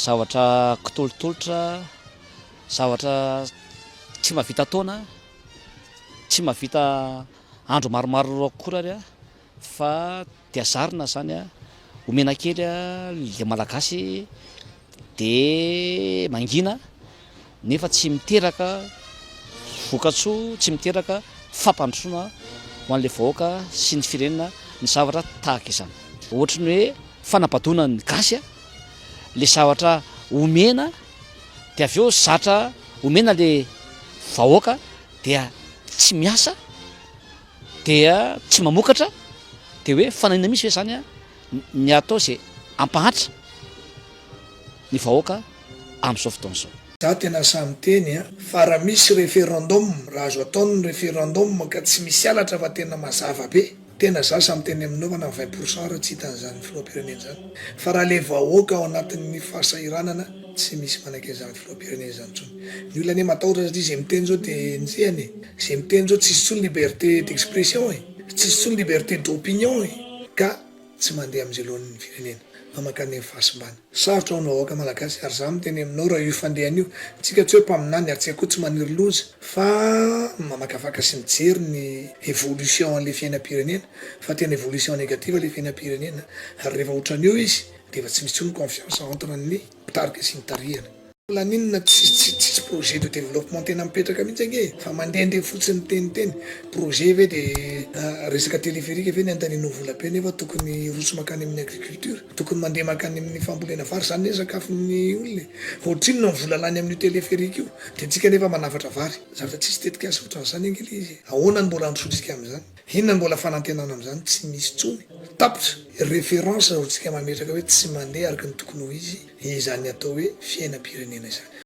Zavatra kitolotolotra, zavatra tsy mahavita taona, tsy mahavita andro maromaro akory ary fa dia zarina izany a, omena kely a, le Malagasy dia mangina. nefa tsy miteraka vokatsoa, tsy miteraka fampandrosoana ho an'ilay vahoaka sy ny firenena ny zavatra tahaka izany. Ohatry ny hoe fanabadoana ny gasy a, le zavatra omena dia avy eo zatra omena le vahoaka dia tsy miasa, dia tsy mamokatra, dia hoe fanahiana mihitsy ve zany a? ny atao izay hampahantra ny vahoaka amin'izao fotoana izao. Za tena sahy miteny a! Fa ra misy referendum, ra azo atao ny referendum ka tsy misy halatra fa tena mazava be, tena za sahy miteny aminao fa na vingt pour cent ara tsy hitany izany filoham-pirenena izany, fa ra le vahoaka ao anatin'ny fahasahiranana tsy misy manaiky an'izany filoham-pirenena izany intsony. Ny olona anie matahotra satria izay miteny izao dia enjehany e! Izay miteny izao tsisy intsony liberté d'expression e! Tsisy tsony liberté d'opinion e! Ka tsy mandeha amin'izay loan'ny firenena fa mankany amin'ny fahasimbana. Sarotra ho an'ny vahoaka malagasy ary za miteny aminao raha io fandehany io, tsika tsy hoe mpaminany ary tsy akoho tsy maniry loza fa mamakafaka sy mijery ny evolution an'le fiainam-pirenena fa tena evolution negative le fiainam-pirenena ary rehefa otran'io izy dia efa tsy misy tsony confiance entre ny mpitarika sy mitarihana. Maninona tsisy projet de développement tena mipetraka mihitsy ange e, fa mandehandeha fotsiny miteniteny projet ve de resaka téléphérique ve ny andanianao vola be nefa tokony hirotsy makany amin'ny agriculture, tokony mandeha makany amin'ny fambolena vary zany anie sakafon'ny olona e, ohatrinona ny vola lany amin'io téléphérique io de antsika nefa manafatra vary, zany fa tsisy tetikasa ohatran'izany ange le izy e, ahoana no mbola handrosoantsika amin'izany. Inona mbola fanantenana amin'izany tsy misy intsony? Tapitra! Référence raha ohatsika mametraka hoe tsy mandeha araka ny tokony ho izy izany atao hoe fiainam-pirenena izany.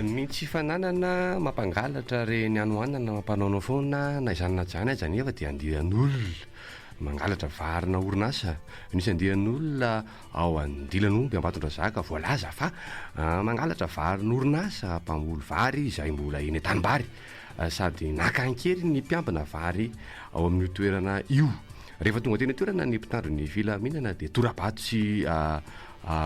Ny tsy fananana mampangalatra re ny hanohanana mampanaonao foana na izany na izany aza anefa dia andian'olona mangalatra varina orinasa misy andian'olona ao andilan'omby ambatondrazaka voalaza fa mangalatra varin'orinasa mpamboly vary izay mbola eny an-tanimbary sady naka an-keriny ny mpiambina vary ao amin'io toerana io. Rehefa tonga teny an-toerana ny mpitandro ny filaminana dia tora-bato sy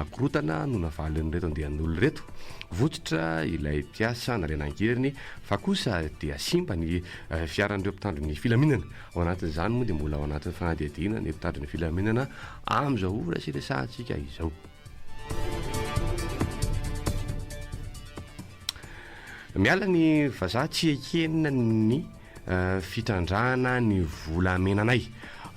korontana no navalin'ireto andian'olona ireto. Votsotra ilay mpiasa nalaina an-keriny fa kosa dia simba ny fiaran'ireo mpitandro ny filaminana. Ao anatin'izany moa dia mbola ao anatin'ny fanadihadiana ny mpitandro ny filaminana amin'izao ora sy resahantsika izao. Miala ny vazaha tsy ekena ny fitrandrahana ny volamenanay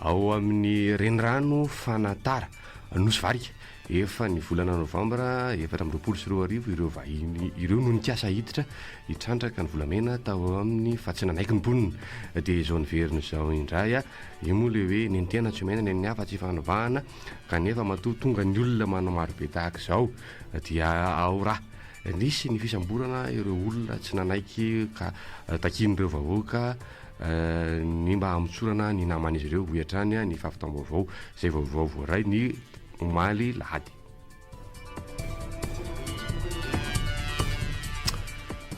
ao amin'ny renirano Fanatara, Nosy Varika. Efa ny volana novambra efatra amby roapolo sy roa arivo ireo vahiny ireo no nikasa hiditra hitrandraka ny volamena tao amin'ny fatsnanaiky ny mponina. Dia izao niverina izao indray a! Io moa ilay hoe nentehana tsy omena ny an'ny hafa tsy fanovana kanefa matoa tonga ny olona manao marobe tahaka izao dia ao raha. Nisy ny fisamborana ireo olona tsy nanaiky ka takian'ireo vahoaka ny mba hamotsorana ny naman'izy ireo, hoy hatrany ny fahavitam-baovao, izay vaovao voaray ny omaly alahady.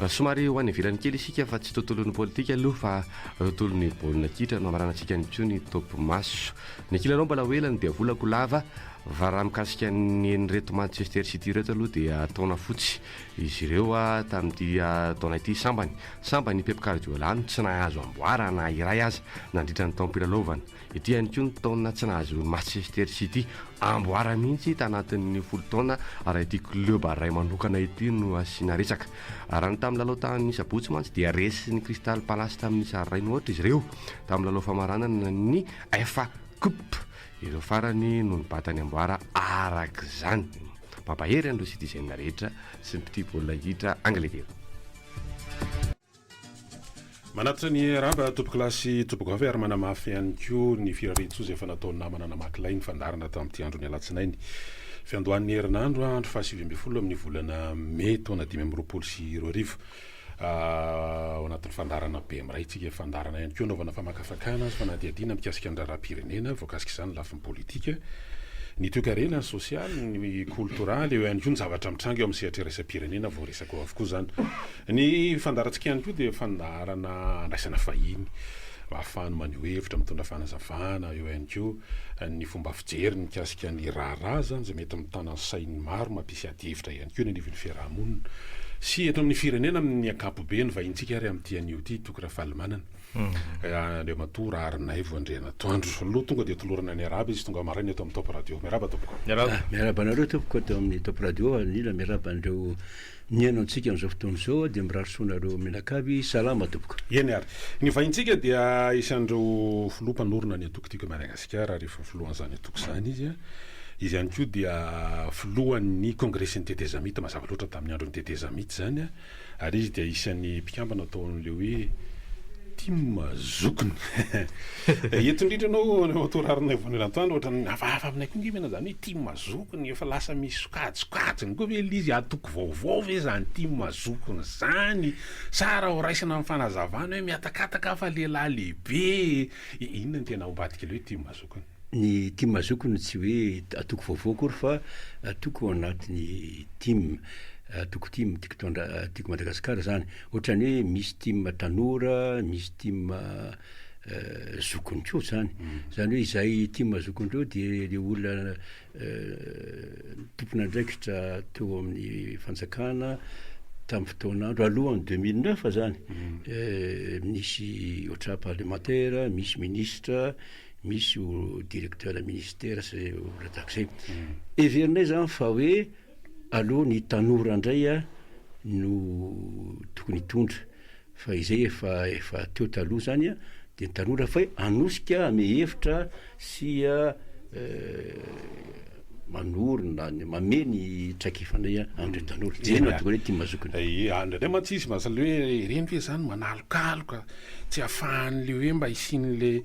Somary ho any ivelany kely isika fa tsy tontolon'ny politika aloha fa tontolon'ny baolina kitra no hamaranantsika an'intsony topimaso. Ny kilalao mbola ho ela ny diavolako lava. Va raha mikasika ny an'ireto Manchester City ireto aloha dia taona fotsy izy ireo tamin'ity taona ity sambany sambany i Pep Guardiola no tsy nahazo amboara na iray aza nandritra ny taom-pilalaovana. Ity ihany koa no taona tsy nahazoan'i Manchester City amboara mihitsy tanatin'ny folo taona raha ity club iray manokana ity no asiana resaka. Raha ny tamin'ny lalao tamin'ny sabotsy mantsy dia resin'ny Crystal Palace tamin'ny sary iray no aotra izy ireo tamin'ny lalao famaranana ny FA Cup. Ireo farany no nibata ny amboara araka izany. Mampahery an'ireo citizen rehetra sy ny mpitia baolina kitra Angletera. Manatitra ny raba tompokolahy sy tompokovavy ary manamafy ihany koa ny firarian-tsoa izay efa nataon'ny namana namaky lay ny fandaharana tamin'ity andron'ny alatsinainy fiandohan'ny herinandro andro fahasivy ambin'ny folo amin'ny volana mey taona dimy amby roapolo sy roa arivo. Ao anatin'ny fandaharana be miray tsika, fandaharana ihany koa anaovana famakafakana sy fanadihadiana mikasika ny raharaham-pirenena, voakasika izany ny lafiny politika, ny toekarena, ny sosialy, ny koltoraly, eo ihany koa ny zavatra mitranga eo amin'ny sehatra iraisam-pirenena, voaresaka eo avokoa izany. Ny fandaharantsika ihany koa dia fandaharana andraisana vahiny mba hahafahany maneho hevitra, mitondra fanazavana, eo ihany koa ny fomba fijeriny mikasika ny raharaha izany izay mety mitana ny sain'ny maro mampisy adihevitra ihany koa. eo ny anivon'ny fiaraha-monina sy eto amin'ny firenena amin'ny ankapobeny, vahintsika ary amin'ity anio ity, Toky Rafalimanana, Andriamatoa Raharinaivo Andrianatoandro. Aloha tonga dia tolorana ny arahaba izy tonga maraina eto amin'ny Top Radio. Miarahaba Tompoko. Miarahaba. Miarahaba anareo Tompoko eto amin'ny Top Radio, anila miarahaba an'ireo nihaino antsika amin'izao fotoana izao dia mirary soa anareo mianakavy, salama Tompoko. Eny ary. Ny vahintsika dia isan'ireo Filoha mpanorina ny antoko Tiako i Madagasikara ary efa filohan'izany antoko izany izy. Izy ihany koa dia filohan'ny Kongresin'ny Tetezamita mazava loatra tamin'ny andron'ny Tetezamita izany ary izy dia isan'ny mpikambana tao amin'ilay hoe Tim Zokiny. Eto indrindra ianao Andriamatoa Raharinaivo Rantandro ohatran'ny hafahafa aminay koa ange ve izany hoe Tim Zokiny, efa lasa misy sokajikajiny koa ve ilay izy, antoko vaovao ve izany Tim Zokiny izany sa raha horaisina amin'ny fanazavana hoe mihatakataka aho fa lehilahy lehibe e! Inona no tena ao ambadik'ilay hoe tim azoko ny. Ny tim azoko no tsy hoe atoko vaovao akory fa atoko ao anatin'ny tim, atoko tim tiako tondra tiako Madagasikara zany. Ohatrany hoe misy tim tanora, misy tim zokiny koa zany. Zany hoe izay tim zokiny reo de le olona ny tompon'andraikitra teo amin'ny fanjakana tamin'ny fotoan'andro alohan'ny deux mille neuf izany, misy ohatran'ny parlemantera, misy minisitra, misy directeur ministera sy olona tahaka izay. Heverinay izany fa hoe aloha ny tanora ndray a no tokony hitondra fa izay efa efa teo taloha zany a de ny tanora fay anosika ame hevitra sy a manorina ny mame ny traikefanay a amindreo tanora zay no ahatonga anay tia mazokiny. Aie a ndraindray mantsy izy mahasalina hoe ireny ve zany manalokaloka tsy afahanle hoe mba hisianle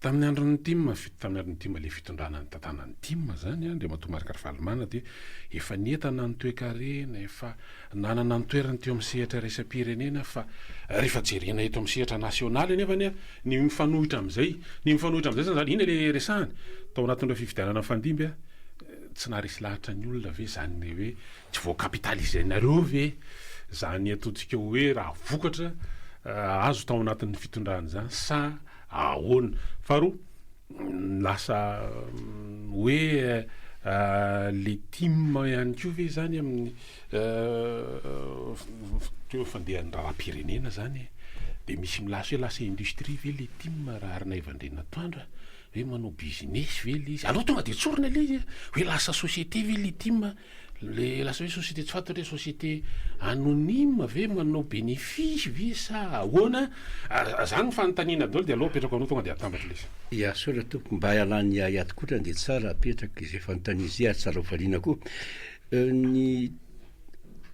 Tamin'ny andron'ny tim, fito tamin'ny andron'ny tim ilay fitondrana nitantanana ny tim izany, Andriamatoa Marc Ravalomanana dia efa nientana ny toekarena, efa nanana ny toerany teo amin'ny sehatra iraisam-pirenena fa rehefa jerena eto amin'ny sehatra nasionaly anefany an, ny mifanohitra amin'izay, ny mifanohitra amin'izay izany, iny ilay resahany tao anatin'ireo fifidianana nifandimby an, tsy naharesy lahatra ny olona ve izany ilay hoe, Tsy voa-capitaliser-nareo ve izany ataontsika hoe raha vokatra azo tao anatin'ny fitondrana izany sa ahoana? Faharoa, lasa hoe le tim ihany koa ve izany amin'ny toa fandehan'ny raharaham-pirenena izany e? Dia misy milaza hoe lasa industrie ve le tim raha arina iva andrianatoandra? Hoe manao business ve le izy? Aleo tonga dia tsorina le izy e! Hoe lasa société ve le tim? Le lasa hoe société tsy fantatra hoe société anonyme ve manao bénéfice ve sa ahoana a, zany ny fanontaniana daholo de aleo apetrako anao tonga de atambatra le izy. Ya soatra tompoko mba ialany ahy ato kotrany dia tsara apetraka izay fanontaniana izay ary tsara ho valiana koa ny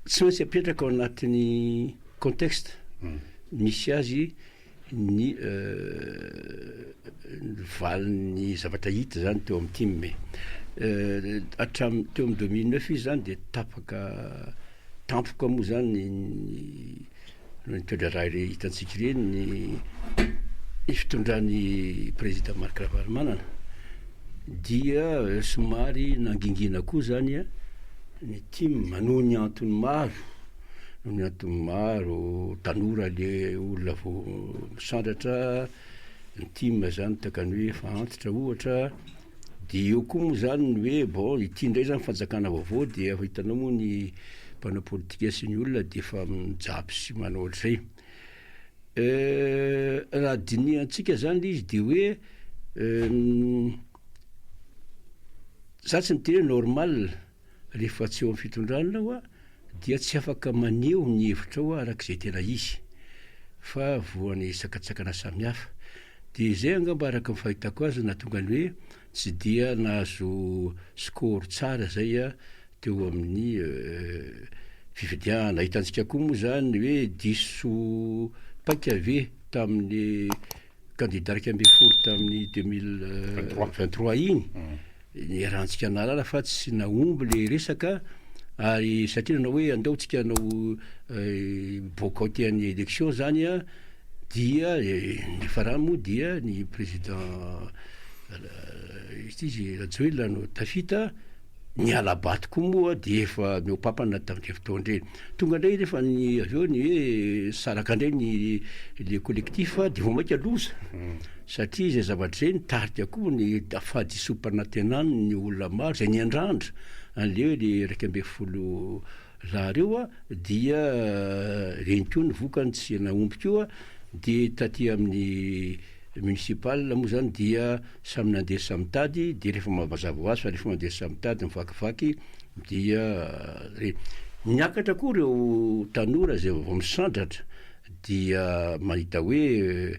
tsy maintsy apetraka ao anatin'ny contexte misy azy ny valin'ny zavatra hita izany teo amin'ny tim e. Hatramin'ny teo amin'ny deux mille neuf izy izany dia tapaka tampoka moa izany ny noho ny toe-draharaha hitantsika ireny ny ny fitondran'i Prezida Marc Ravalomanana dia somary nangingina koa izany ny tim noho ny antony maro Ny antony maro, tanora le olona vao misandratra, ny tim zany takany hoe efa antitra ohatra, de eo koa moa zany ny hoe bon ity ndray zany fanjakana vaovao dia efa hitanao moa ny mpanao politika sy ny olona de efa mijapy sy manao ohatr'izay, raha dinihantsika zany le izy de hoe za tsy niteny hoe normal. rehefa tsy eo amin'ny fitondrana aho dia tsy afaka maneho ny hevitrao aho araka izay tena izy fa voan'ny sakantsakana samihafa. Dia izay angamba araka ny fahitako azy no nahatonga ny hoe tsy dia nahazo score tsara izay aho teo amin'ny fifidianana. Hitantsika koa moa izany hoe diso paika ve tamin'ny kandida iraika ambin'ny folo tamin'ny deux mille vingt trois iny, niarahantsika nahalala fa tsy nahomby le resaka ary satria nanao hoe andao tsika hanao eh, boycott an'ny élection zany a dia eh, ny farany moa dia ny président eh, izy rajoelina no tafita Ny hala-bato koa moa dia efa nihoa-pampana tamin'ireny fotoana ireny. Tonga indray rehefa ny avy eo ny hoe saraka indray ny le collectif dia vao mainka loza. Satria izay zavatra izay nitarika koa ny fahadisoam-panantenan'ny olona maro izay niandrandra an'ilay hoe le iraika ambin'ny folo lahy ireo dia ireny koa ny vokany tsy nahomby koa. Dia taty amin'ny municipal moa izany dia. Samy nandeha sy samy nitady, dia rehefa mazava ho azy fa rehefa mandeha sy samy mitady, mivakivaky, dia re. Niakatra koa ireo tanora izay vaovao misandratra, dia mahita hoe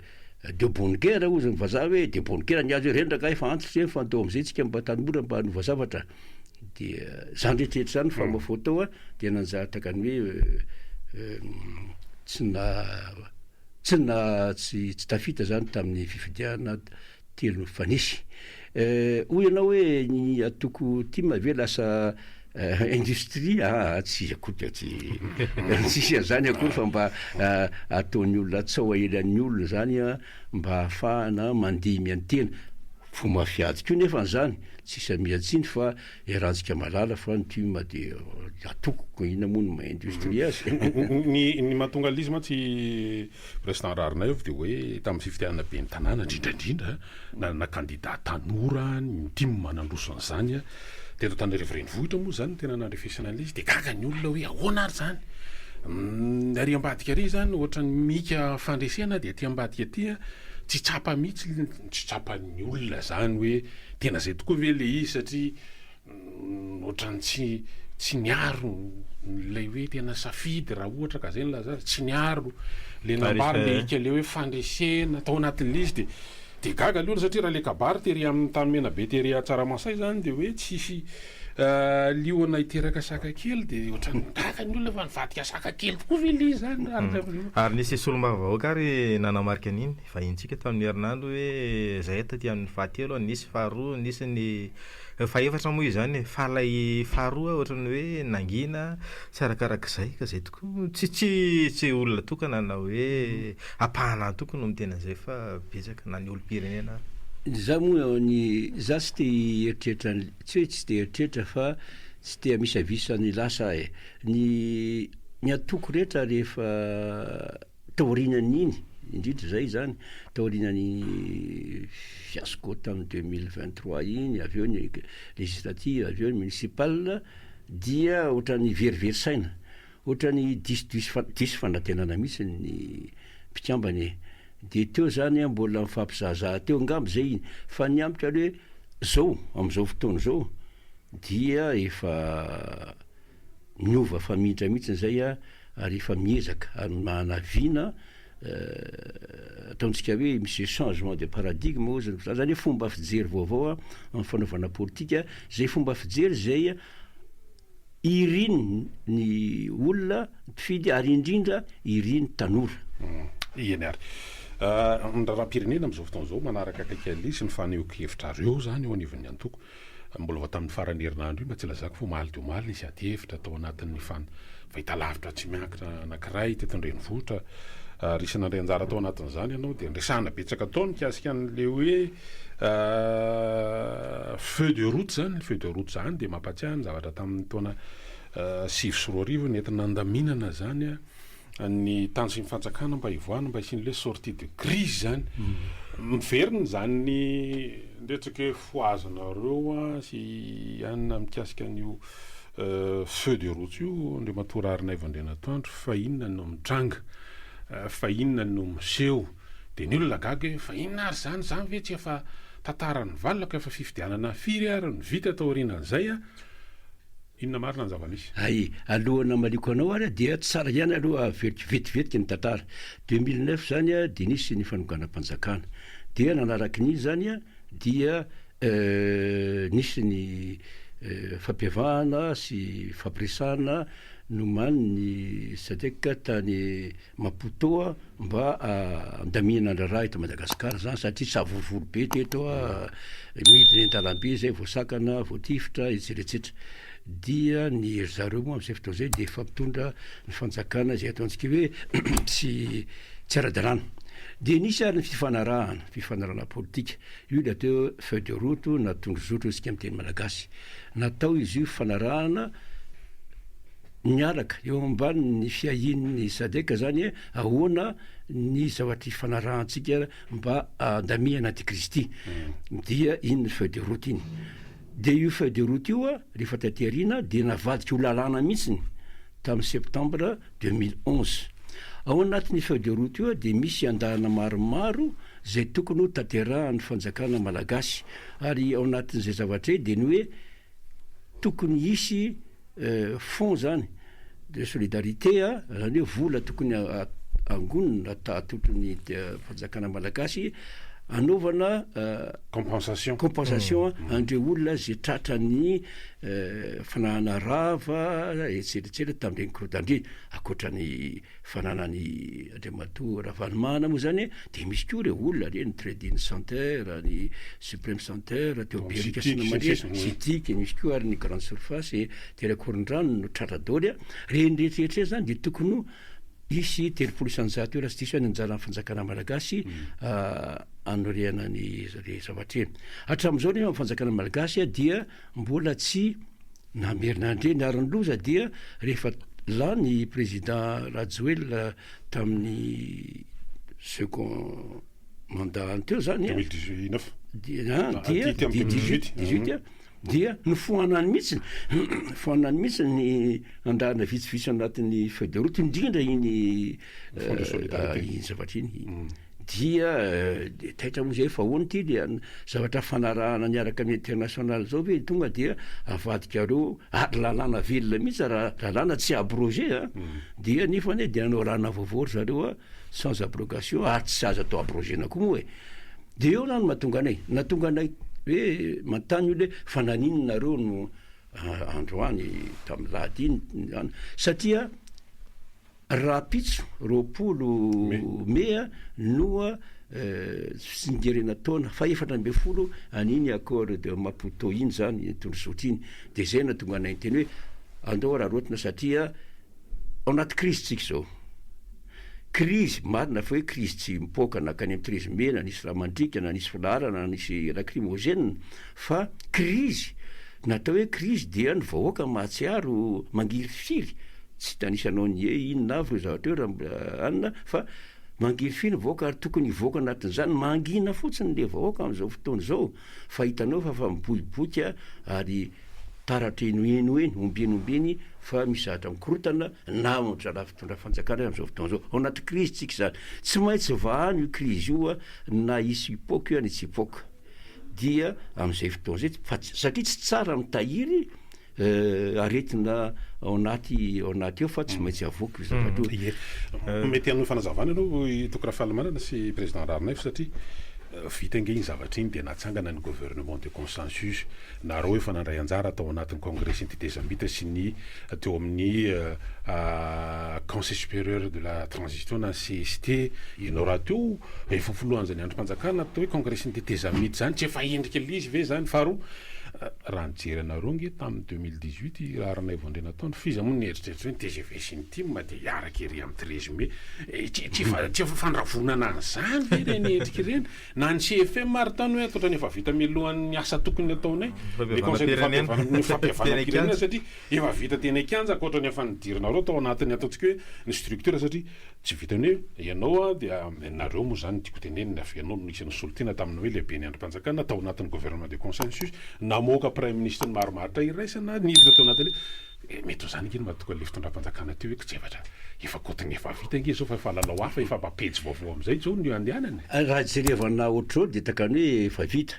de bonne guerre hozy ny vazaha hoe de bonne guerre ny azy hoe rendraka efa antitra izay, mifantoha amin'izay isika mba tanora mba hanova zavatra. Dia izany rehetrarehetra izany fa mafoto tao an, dia nanjary takany hoe tsy na. Tsy na tsy tsy tafita zany tamin'ny fifidianana telo fa nisy. Hoy ianao hoe ny atoko tim ve lasa industrie aa tsy akory tsy tsisy an'izany akory fa mba ataon'ny olona tsao aelan'ny olona zany an mba ahafahana mandihy miantena. Fo mafiady koa nefa an'izany, tsy samian-tsiny fa Eh Ratsika malala fa ny tim dia atokoko inona moa no maha industrie azy. Ny ny mahatonga lzy mantsy i president Raharinaivo dia hoe tamin'ny fifidianana ben'ny tanàna indrindra indrindra nanana candidat tanora ny tim nandroso an'izany teto Antananarivo renivohitra moa izany no tena nandrefesana an'ilay izy dia gaga ny olona hoe ahoana ary izany ary ambadika ary izany ohatra ny mika fandresena dia aty ambadika aty tsy tsapa mihitsy tsy tsapan'ny olona izany hoe Tena zay tokoa ve le izy satria otrany tsy tsy niaro le hoe tena safidy raha ohatra ka zay no lazany tsy niaro le nambara le hika le hoe fandresena tao anatin'le izy de de gaga aloha satria raha le kabary tery amin'ny tany menabe tery à tsaramasay zany de hoe tsisy liona hiteraka saka kely de otrany gaga ny olona fa nivadika saka kely tokoa ve le izy zany ary nisy solombavambahoaka ary nanamarika an'iny Vahinintsika tamin'ny herinandro hoe zay taty amin'ny fahatelo, nisy faharoa, nisy ny fahefatra moa izany e. Fa ilay faharoa ohatran'ny hoe nangina tsy arakarak'izay ka izay tokoa no tsy tsy tsy olona tokana na hoe ampahana ahy tokana no miteny an'izay fa betsaka na ny olom-pirenena ary. Izaho moa ny izaho tsy te hieritreritra an'le- tsy hoe tsy te hieritreritra fa tsy te hamisavisa ny lasa aho e. Ny ny ataoko rehetra rehefa. Taorinan'iny, indrindra izay izany, taorinan'ny fiasco tamin'ny deux mille vingt trois iny, avy eo ny législatives, avy eo ny municipales, dia ohatran'ny verivery saina, ohatran'ny diso diso fa- diso fanantenana mihitsy ny mpikambana e! Dia teo izany mbola nifampizahazaha teo angamba izay iny, fa ny amiko aloha hoe izao, amin'izao fotoana izao, dia efa niova famintra mihitsy izay a! ary efa miezaka ary manavina ataontsika hoe misy changement de paradigme ozy ny zany hoe fomba fijery vaovao amin'ny fanaovana politika zay fomba fijery zay irin ny olona mpifidy ary indrindra irin ny tanora hmm. eny ary ah, ny raharaham-pirenena amin'izao fotoana izao manaraka akaiky aleha sy ny fanehoan-kevitrareo zany eo anivon'ny antoko Mbola vao tamin'ny faran'ny herinandro io, mba tsy lazako fa omaly dia omaly, nisy ady hevitra tao anatin'ny fahitalavitra tsy miankina anankiray teto an-drenivohitra ary isan'ny nandray anjara tao anatin'izany ianao dia niresahana betsaka tao mikasika an'ilay hoe feu de route izany, feu de route izany dia mampahatsiahy ny zavatra tamin'ny taona sivy sy roa arivo nentina nandaminana izany. ny tanjon'ny fanjakana mba hivoahana mba hisian'le hoe sortie de crise zany miverina izany ny ndretsaka hoe fohazanareo a sy anina mikasika an'io euh, feu de route io Andriamatoa Raharinaivo Andrianatoandro fa inona no mitranga euh, fa inona no miseho dia ny olona gaga hoe fa inona ary izany izany ve tsy efa tantaran'ny valaka efa fifidianana firy ary no vita taorianan'izay a Inona marina ny zava-misy? Ay, alohan'ny hamaliako anao ary a, dia tsara ihany aloha haveriko vetivetiky ny tantara. 2009 izany a, dia nisy ny fanonganam-panjakana. Dia nanaraky ny izany a, dia eh, nisy ny eh, fampiavahana sy fampiresahana nomanin'ny Sadec tany, Maputo a, mba andamihana andraraha eto Madagascar zany satria tsavorovoro be teto a, midina eny andalambe zay voasakana, voatifitra, etsetra etsetra, dia ny ry zareo moa amzay fotoana zay dia efa mitondra ny fanjakana izay ataontsika hoe tsy tsy ara-dalàna, dia nisy ary ny fifanarahana, fifanarahana politika, io ilay atao hoe feuille de route na tondrozotro hoy isika amin'ny teny malagasy, natao izy io fifanarahana, miaraka eo ambanin'ny fiahian'ny Sadc zany hoe ahoana ny zavatra ifanarahantsika mba handamihana antikristy hmm. dia iny feuille de route iny dia io feuille de route io a rehefa taty aoriana dia navadika ho lalàna mihitsiny tamin'ny septembre 2011 ao anatin'ny feuille de route io a dia misy andahana maromaro zay tokony ho tanterahan'ny fanjakana malagasy ary ao anatin'izay zavatra e dia ny hoe tokony hisy Fonds zany de solidarité a, zany hoe vola tokony angonina atolotry ny fanjakana malagasy anaovana compensation compensation an'ireo olona ze tratran'ny fananana rava etsetra etsetra tamin'ireny korodandria ankoatra ny fananany Andriamatoa Ravanimahana moa zany dia misy koa ireo olona re ny trading center, ny supreme center teo Berika sy namanjirika, Citic, misy koa ary ny grande surface tery Ankorondrano no tratra daoly, reny rehetrarehetra reny zany dia tokony ho hisy telopolo isanjato eo raha tsy diso aho ny anjaran'ny fanjakana malagasy anorenany izany zavatra izany, hatramin'izao nefa ny fanjakana malagasy dia mbola tsy Namerina ndray ny aron'ny loza dia rehefa lany i Président Rajoelina tamin'ny second mandat-ny teo zany an, 2019. dia an, dia Adika amin'ny dia 2018. 18, 18 an, dia nofoanany mihitsiny, foanany mihitsiny ny andaharana vitsivitsy ao anatin'ny feuille de route indrindra iny Fonds de eh, solidarité. iny zavatra iny. Dia dia taitra moa izay fa hono ity dia zavatra hifanarahana miaraka amin'ny international izao ve tonga dia avadikareo ary lalàna velona mihitsy raha lalàna tsy abroger a! dia nefany hoe dia hanao lalana vaovao ry zareo a! sans abrogation ary tsy azo atao abrogena koa moa e! dia eo na no mahatonga anay na tonga anay hoe manontany olona hoe fa naninona nareo no androany tamin'ny lahady iny satria Rahampitso, roapolo mea, noa fitsingerena taona faha efatra ambin'ny folo an'iny Accord de Maputo iny izany, iny tondrozotra iny, dia izay no nahatonga anay niteny hoe andao araraotina satria ao anaty krizy tsika izao. Krizy, marina fa hoe krizy tsy mipoaka nankany amin'ny treize mai na nisy ramandrika na nisy filaharana na nisy lacrymogène fa krizy, natao hoe krizy dia ny vahoaka mahatsiaro mangirifiry, Tsy tanisanao ny hoe inona avy ireo zavatra ireo Ramanana fa mangefy ny vahoaka ary tokony hivoaka anatin'izany. Mangina fotsiny ilay vahoaka amin'izao fotoana izao fa hitanao fa efa miboiboika ary taratra eny ho eny ho eny, omby eny omby eny fa misy zavatra mikorontana na ao amin'ny raharaha fitondran'ny fanjakana ary amin'izao fotoana izao. Ao anaty krizy isika izany. Tsy maintsy vahano io krizy io na hisy hipoaka io na tsy hipoaka dia amin'izay fotoana izay satria tsy tsara mitahiry Eh, aretina ao anaty ao anaty eo fa tsy maintsy avoaka io zavatra io. Ie. Mety hanome fanazavana aloha i Toky Rafalimanana sy Président Raharinaivo satria eh, vita ange iny zavatra iny dia natsangana ny gouvernement de consensus. Nareo efa nandray anjara tao anatin'ny congrès sy ny tetezamita sy ny teo amin'ny eh, ah, Conseil supérieur de la transition na CST. Ianao rahateo efa filohan'izany andrim-panjakana atao hoe congrès sy ny tetezamita izany tsy efa endrika ilay izy ve izany? Faharoa, Raha nijery anareo nge tamin'ny deux mille dix huit i Raharanaivo Andrianatoandro f'iza moa nieritreritra hoe ny tgv sy ny tim dia hiaraka ery amin'ny treize mai. Tsy efa tsy efa fandravonana an'izany ve ireny endrika ireny? Na ny CFM ary tany hoe ankoatra ny efa vita mialohan'ny asa tokony hataonay, le conseil de fampihavanam ny fampihavanam-pirenena satria efa vita teny an-kianja ankoatra ny efa nidirinareo tao anatin'ny ataontsika hoe ny structure satria Tsy vitan'ny hoe ianao a dia nareo moa izany no tiako tenenina avy ianao no isan'ny solontena tamin'ny hoe lehiben'ny andrim-panjakana tao anatin'ny gouvernement de consensus namoaka praiminisitra maro maharitra iraisana niditra tao anatin'ilay eh mety ho izany ange no mahatoky an'ilay fitondram-panjakana teo hoe kojevatra efa kotony efa vita ange izao fa efa lalao hafa efa mba pejy vaovao amin'izay izao no iandehanana e. Raha jerevana ohatr'izao dia takany hoe efa vita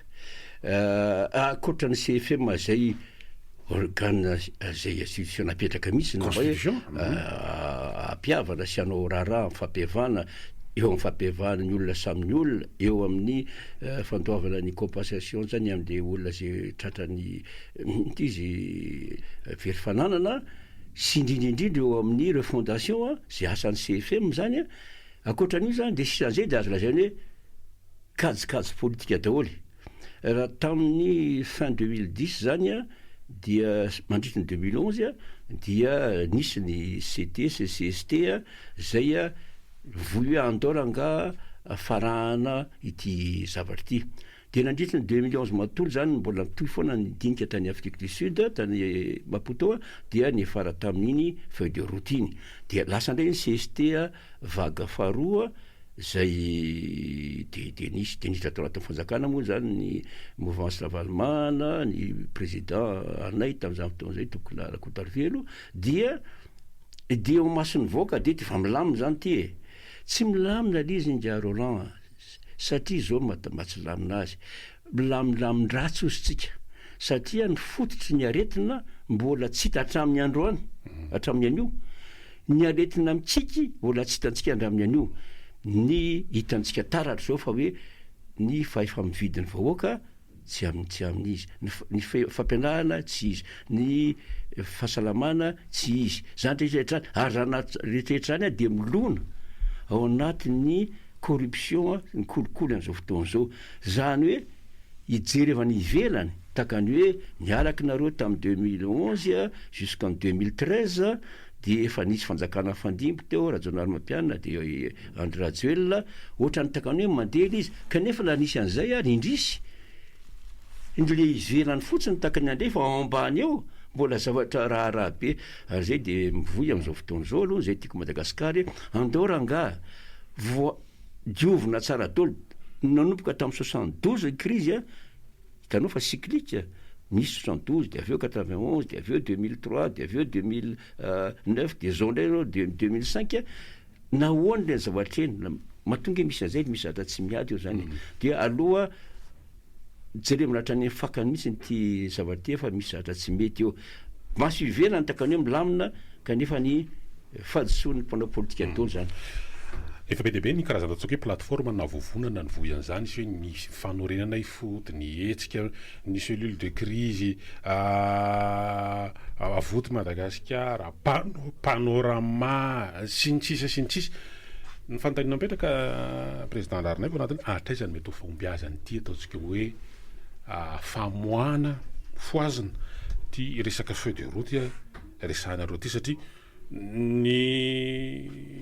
ah ankoatra ny CFM izay organe izay institution napetraka mihitsy na hoe hampihavana sy hanao raharaha amin'ny fampihavana eo amin'ny fampihavan'ny olona samy ny olona, eo amin'ny fandoavana ny compensation zany an'le olona izay tratran'ny inona ty izy very fananana sy indrindra indrindra eo amin'ny refondation izay asan'ny CFM zany an, ankoatran'io zany dia sisa an'izay dia azo lazaina hoe kajikajy politika daholo e. Raha tamin'ny fin deux mille dix zany a, dia mandritry ny deux mille onze a, dia nisy ny CT sy CST a, zay a, voy hoe andao rangaha farahana ity zavatra ity. Dia nandritry ny deux mille onze matontolo zany mbola nitohy foana ny dinika tany Afrique du Sud, tany Maputo a, dia niafara tamin'iny feuille de route iny. Dia lasa ndray ny CST a, Vague faharoa izay dia dia nisy dia nisy tao anatin'ny fanjakana moa izany ny mouvance Ravalomanana, ny président anay tamin'izany fotoana izay Tokona Rakotarivelo dia dia eo imason'ny vahoaka dia efa milamina izany ity e! Tsy milamina ilay izy ingahy Roland a! satria izao no mahatonga tsy hilamina azy. Milamindamin-dratsy hozy tsika satria ny fototry ny aretina mbola tsy hita hatramin'ny androany, hatramin'ny anio. Ny aretina mikiky mbola tsy hitantsika handramin'ny anio. Ny hitantsika taratra izao fa hoe ny fahefa-mividin'ny vahoaka tsy amin'ny tsy amin'ny izy, ny fampianarana tsy izy, ny fahasalamana tsy izy. Izany rehetra hatrany, ary izany rehetra hatrany ary dia milona ao anatin'ny corruption, ny kolikoly an'izao fotoana izao. Zany hoe hijery avy any ivelany tahaka ny hoe niaraky nareo tam deux mille onze jusqu'en deux mille treize de efa nisy fanjakana nifandimby teo Rajaonarimampianina de Andry Rajoelina otrany tahaka ny hoe mandeha le izy kanefa la nisy an'izay ary indrisy ny le ivelany fotsiny tahaka ny an'le fa ao ambany eo mbola zavatra raharaha be ary zay de mivoy am'zao fotoana zao aloha zay tiako Madagasikara e andao rangah voa Diovina tsara dol nanomboka tam soixante douze ny krizy a, hitanao fa cyclique a, nisy soixante douze de avy eo quatre vingt onze de avy eo deux mille trois de avy eo deux mille neuf de zao ndray zao deux deux mille cinq a, nahoana le zavatra eny, matonga misy anzay de misy zavatra tsy miady eo zany e, dia aleo a Jerevina hatrany amin'ny fakany mihitsiny ity zavatra ity fa misy zavatra tsy mety eo. Maso ivelany takany eo milamina kanefa ny fahadisoan'ny mpanao politika ataony izany. Efa be dia be ny karazana antsoiko hoe plateforme na vovonana nivohy an'izany, nisy hoe ny fanorenana ifody, ny hetsika, ny cellule de crise Avoty Madagasikara, Panorama, sy ny sisa sy ny sisa. Ny fanontaniana mipetraka Président Raharinaivo anatiny, hatraiza no mety ho fahombiazan' ity ataontsika hoe famoahana fohazina ity resaka feuille de route resahanareo ity satria ny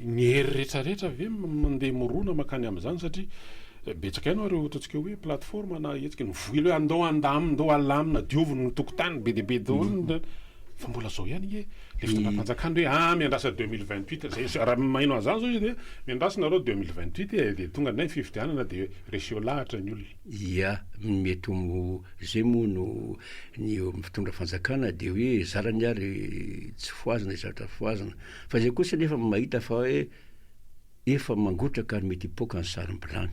ny hery rehetra rehetra ve mandeha mirona makany amin' izany satria betsaka ihany ireo ataontsika hoe plateforme na hetsika nivoy hoe andao handamina andao halamina diovina ny tokotany be dia be daholo ny Fa mbola zao ihany nge le fitondram-panjakana hoe ah miandrasa deux mille vingt huit zay raha maheno an'zany zao izy dia miandrasa nareo deux mille vingt huit e dia tonga indray ny fifidianana dia reseo lahatra ny olona. Ia, mety ho zay moa no ny eo amin'ny fitondra fanjakana dia hoe zarany ary tsy fohazina izatra fohazina fa izay kosa nefa mahita fa hoe efa mangotraka ary mety hipoaka ny sarim-bilany.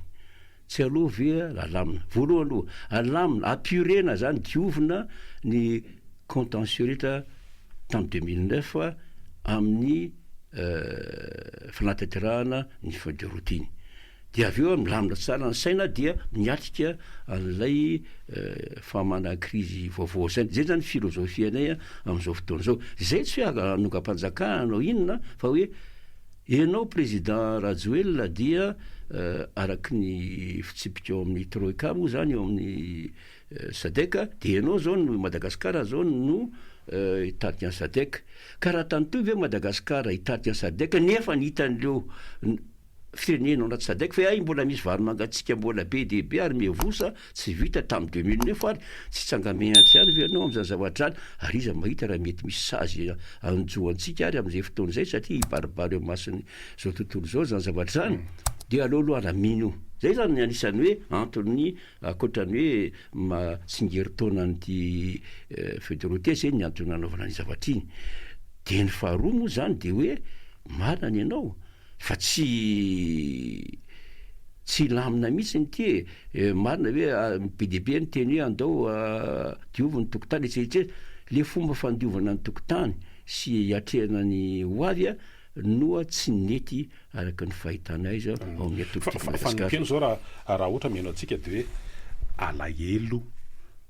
Tsy alou ve alamina? Voalohany aloha, alamina, apurena zany, diovina ny contentieux rehetra tamin'ny deux mille neuf amin'ny fanatanterahana ny feuille de route iny. Dia avy eo milamina tsara ny saina dia miatrika an'ilay fahamanan-krizy vaovao izay. Izay zany philosophie-nay amin'izao fotoana izao. Izay tsy hoe hanongam-panjakana na inona fa hoe. Ianao Président Rajoelina dia araky ny fitsipika ao amin'ny Troika moa izany ao amin'ny Sadec dia ianao izao no Madagascar izao no hitarika an'i Sadec. Ka raha tany toy ve Madagascar hitarika an'i Sadec nefa ny hitan'ireo firenena ao anaty Sadec fa hay mbola misy vary mangatsiaka mbola be dia be ary miavosa Tsy vita tamin'ny deux mille neuf ary tsy tsangamehatra ihany ve ianao amin'izany zavatra izany ary iza mahita raha mety misy sazy hanjo antsika ary amin'izay fotoana izay satria hibaribary eo imason'ny izao tontolo izao izany zavatra izany dia aleo aloha ary mino izay izany ny anisan'ny hoe antony ankoatra ny hoe maha tsingerin-taona an'ity feu de route izay ny antony nanaovana an'iny zavatra iny dia ny faharoa moa izany dia hoe marina ny anao fa tsy tsy hilamina mihitsy ny ity e, marina ve be dia be miteny hoe andao diovy ny tokotany etsy etsy le fomba fandiovana ny tokotany sy hiatrehana ny ho avy a noa tsy nety araka ny fahitanay zao ao amin'ny atoko ity Madagasikara. Fanompiana zao raha raha ohatra mihaino antsika de hoe alahelo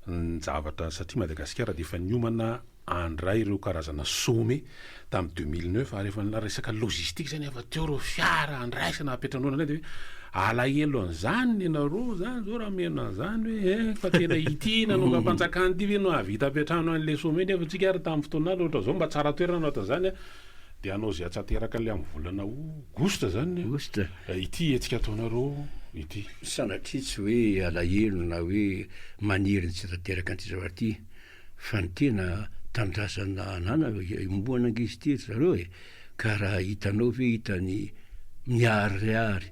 ny zavatra satria Madagasikara de efa niomana handray ireo karazana some tamin'ny deux mille neuf ary efa nila resaka logistique zay nefa teo ireo fiara handraisana hampetranona indray de hoe alahelo an'izany ny anareo zany zao raha mihaino an'izany hoe eh fa tena ity nanongam-panjakana ity ve no hahavita hampiantrano an'ilay some nefa antsika ary tamin'ny fotoanany ohatra izao mba tsara toerana no atao izany an dia hanao izay hatsateraka an'ilay amin'ny volana aogositra izany ny Aogositra. ity hetsika ataonareo ity. Sanatria tsy hoe alahelo na hoe maniry ny tsy hatateraka an'ity zavatra ity Fa ny tena tanindrazana ananana iombonana ange izy ity ry zareo e! Ka raha hitanao ve hitany miharihary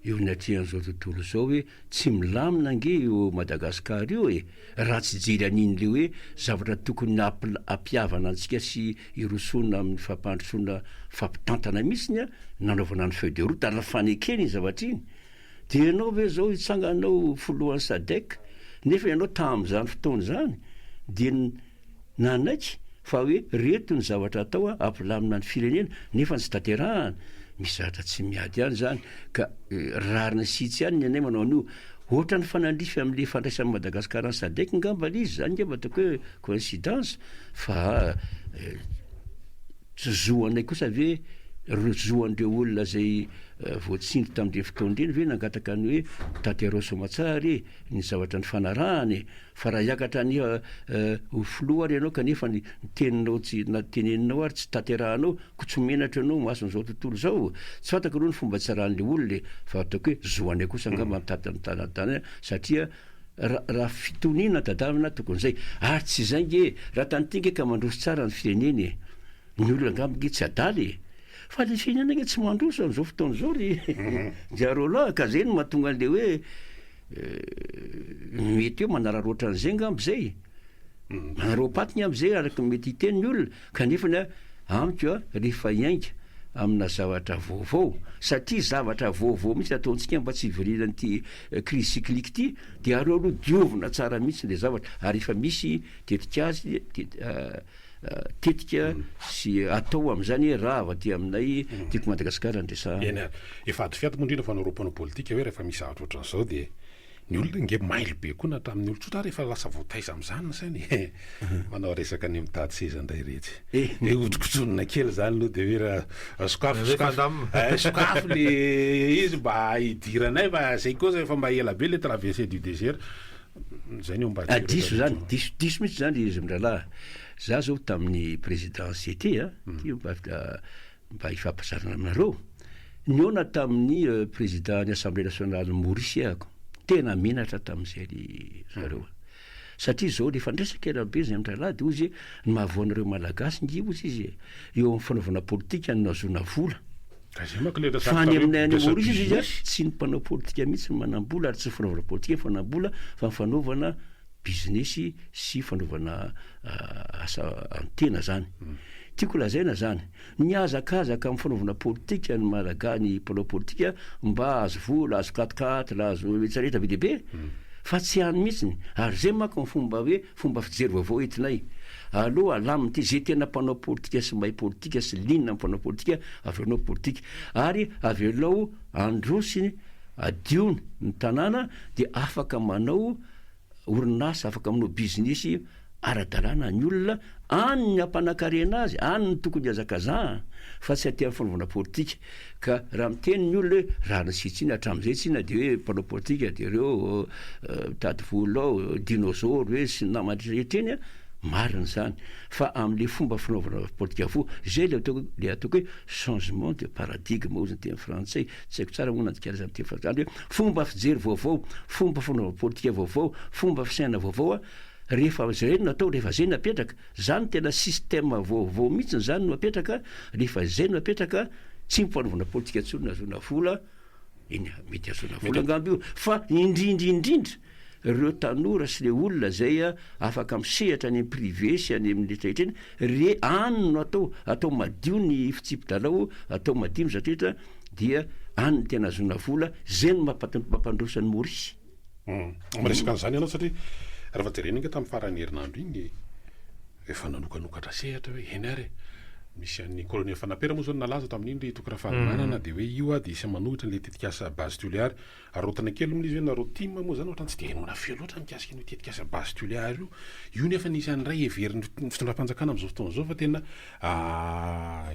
eo ny atrehan'izao tontolo izao hoe tsy milamina ange io Madagascar io e! Raha tsy hijery an'iny le hoe zavatra tokony hampihavana antsika sy hirosoana amin'ny fampandrosoana fampitantana mihitsiny nanaovana ny feuille de route ary ny fanekena iny zavatra iny Dia ianao ve izao hitsangana ho filohan'ny Sadec nefa ianao tamin'izany fotoana izany dia nanaiky fa hoe reto ny zavatra atao hampilamina ny firenena nefa tsy tanterahana, misy zavatra tsy miady any izany ka rariny sitsy any ny anay manao an'io, ohatran'ny fanandrify amin'ilay fandraisan'i Madagasikara ny Sadec ngamba ilay izy, izany ngamba ataoko hoe coïncidence fa Tsy zo anay kosa ve ireo zo an'ireo olona izay voatsindry tamin'ireny fotoana ireny ve nangataka ny hoe tanterao soamatsara e ny zavatra nifanarahana e? Fa raha hiakatra any ho filoha ary ianao kanefa ny teninao tsy na teneninao ary tsy tanterahanao koa tsy menatra ianao imason'izao tontolo izao? Tsy fantako aloha ny fomba tsy raran'ilay olona e fa ataoko hoe zo anay kosa angamba ny tantana satria Raha fitoniana tadavina tokony izay. Ary tsy izay nge e! Raha tany ity nge ka mandroso tsara ny firenena e! Ny olona angamba nge tsy adala e! Fa le firenena nge tsy mandroso amin'izao fotoana izao ry Jarolà a! Ka zay no mahatonga an'le hoe mety hoe manararaotra an'izay angamba izay. Maropatina amin'izay araka ny mety hiteny ny olona kanefa ny ahy amiko rehefa hiainga amina zavatra vaovao satria zavatra vaovao mihitsy ataontsika mba tsy hivorian'ity crise cyclique ity dia aroaroa diovina tsara mihitsy ilay zavatra ary efa misy tetik'azy tetika sy atao amin'izany rava aty aminay teto Madagasikara ny resahana. Eny, efa adifiady moa indrindra fa ny roa mpanao politika hoe rehefa misy zavatra ohatran'izao dia Ny olona ange mailo be koa na tamin'ny olon-tsotra ary efa lasa voataiza amin'izany ny sainy e! Manao resaka ny mitady seza indray iretsy. Dia hodinkodinina kely izany aloha dia hoe ra sokafy sokafy sokafy le izy mba hidiranay fa zay kosa efa mba ela be le traversée du désert. Zay ny homba aty rehetra rehetra io. Diso diso mihitsy izany ry zm-drahalahy. Za zao tamin'ny présidence ity a, ity mba mba hifampizarana aminareo, nihaona tamin'ny président ny assemblée nationale Maurice aho, tena menatra tamin'izay ry zareo a! satria zao le fandresaka elabe zay andry Alady ozy e, ny mahavoa anareo malagasy nge ozy izy e, eo amin'ny fanaovana politika no nahazoana vola, fa any aminay any Maurice izy a, tsy ny mpanao politika mihitsy no manam-bola ary tsy ny fanaovana politika no fanam-bola fa ny fanaovana bizinesy sy fanaovana asa an-tena zany. Tiako lazaina zany, nihazakazaka amin'ny fanaovana politika ny Malaga ny mpanao politika mba hahazo vola, hahazo quat-quatre, hahazo retraretra be dia be, fa tsy any mihitsiny. Ary zay manko ny fomba hoe fomba fijery vaovao entinay. Aleo alamina ity, ze tena mpanao politika sy mahay politika sy liana amin'ny mpanao politika, avelao ny politika. Ary avelao androsiny, adio ny tanàna dia afaka manao. orinasa afaka manao bizinesy ara-dalàna ny olona, any ny hampanan-karena azy, any no tokony hihazakazahana fa tsy aty amin'ny fanaovana politika. Ka raha miteny ny olona hoe rariny sy tsiny hatramin'izay tsina dia hoe mpanao politika dia ireo mitady vola ao, dinôzôro hoe sy ny namany rehetra eny an, marina izany fa amin'ilay fomba fanaovana politika avokoa. Izay ilay ataoko hoe changement de paradigme hoy ny teny frantsay. Tsy haiko tsara moa na dikary izany teny fahatratra izany hoe fomba fijery vaovao, fomba fanaovana politika vaovao, fomba fisainana vaovao a, rehefa izay no atao, rehefa izay no apetraka, izany tena système vaovao mihitsiny izany no apetraka, rehefa izay no apetraka, tsy mpanaovana politika intsony no ahazoana vola, eny a, mety ahazoana vola angamba io, fa indrindra indrindra reo tanora sy le olona zay a afaka misehatra any am privé sy any aminy retraretra eny re any no atao atao madio ny fitsipi dalao atao madio ny zatrretra dia any no tena azona vola zay no mapatanto mapandroso any maurice. Humm miresaka an'izany ianao satria rehefa jerena enga tamin'ny faran'ny herinandro iny efa nanokanokatra sehatra hoe eny ary e misy an'ny colonel Fanapera moa zao no nalaza tamin'iny ry Toky Rafalimanana dia hoe io ary dia isan'ny manohitra an'ilay tetikasa base Toliary Arotina kely moa izy hoe nareo tim moa izany ohatrany tsy dia henoina feo loatra mikasika an'io tetikasa base Tuléar io. Io nefa no isan'ny iray heverin'ny fitondram-panjakana amin'izao fotoana izao fa tena